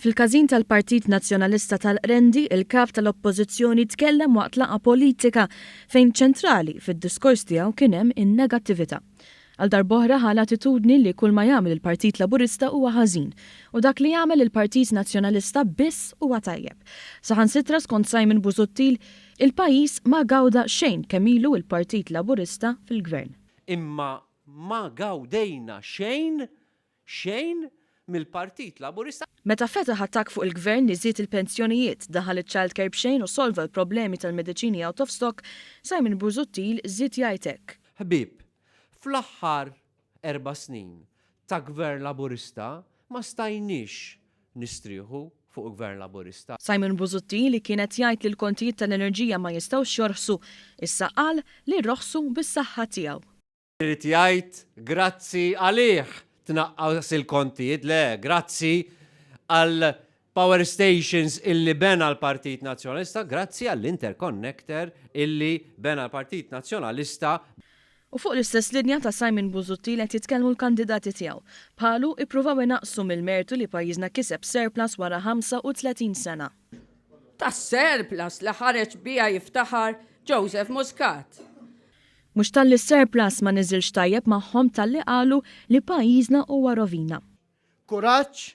Fil-każin tal-Partit Nazzjonalista tal-Qrendi, il-Kap tal-Oppożizzjoni tkellem waqt laqgħa politika fejn ċentrali fid-diskors tiegħu kien hemm in-negattività. Għal darb'oħra ħa l-attitudni li kull ma jagħmel il-Partit Laburista huwa ħażin u dak li jagħmel il-Partit Nazzjonalista biss huwa tajjeb. Saħansitra skont Simon Busuttil, il-pajjiż ma gawda xejn kemm ilu l-Partit Laburista fil-Gvern. Imma Ma gawdejna xejn, xejn mill-Partit Laburista. Meta fetaħ attakk fuq il-Gvern li żied il-pensjonijiet, daħal iċ-childcare b'xejn u solva l-problemi tal-mediċini out of stock, Simon Busuttil żied jgħid hekk. Ħbieb, fl-aħħar erba' snin ta' Gvern Laburista ma stajniex Nistrieħu fuq Gvern Laburista. Simon Busuttil li kien qed jgħid li l-kontijiet tal-enerġija ma jistgħux jorħsu, issa qal li rroħsu bis-saħħa tiegħu. Irid jgħid grazzi għalih tnaqqas il-kontijiet, le, grazzi għall-power stations illi bena l-Partit Nazzjonalista, grazzi għall-interconnector illi bena l-Partit Nazzjonalista. U fuq l-istess linja ta' Simon Busuttil qed jitkellmu l-kandidati tiegħu. Bħalu, ippruvaw inaqqsu mill-mertu li pajjiżna kiseb surplus wara 35 sena. Tas-surplus li ħareġ biha jiftaħar Joseph Muscat. Mhux talli s-surplus ma niżilx tajjeb magħhom talli qalu li pajjiżna huwa rovina. Kuraġġ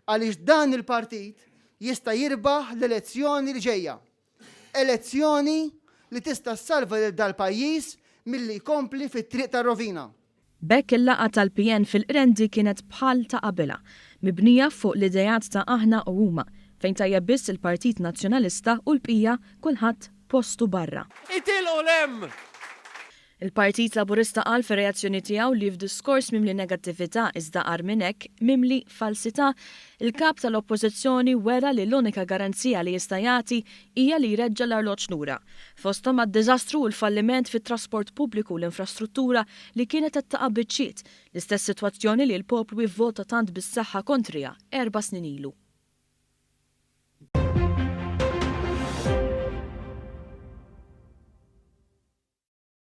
għaliex dan il-partit jista' jirbaħ l-elezzjoni li ġejja. Elezzjoni li tista' ssalva lil dal-pajjiż milli jkompli fit-triq tar-rovina. B'hekk il-laqgħa tal-PN fil-Qrendi kienet bħal ta' qabilha, mibnija fuq l-ideat ta' aħna u huma, fejn tajjeb biss il-Partit Nazzjonalista u l-bqija kulħadd postu barra. Itilqu 'l hemm! Il-Partit Laburista qal fir-reazzjoni tiegħu li f'diskors mimli negattività iżda agħar minn hekk, mimli falsità, il-Kap tal-Oppożizzjoni wera li l-unika garanzija li jista' jagħti hija li jreġġa' l-arloġġ lura. Fosthom għad-diżastru u l-falliment fit-trasport pubbliku u l-infrastruttura li kienet qed taqa' biċċiet, l-istess sitwazzjoni li l-poplu ivvota tant bis-saħħa kontriha erba' snin ilu.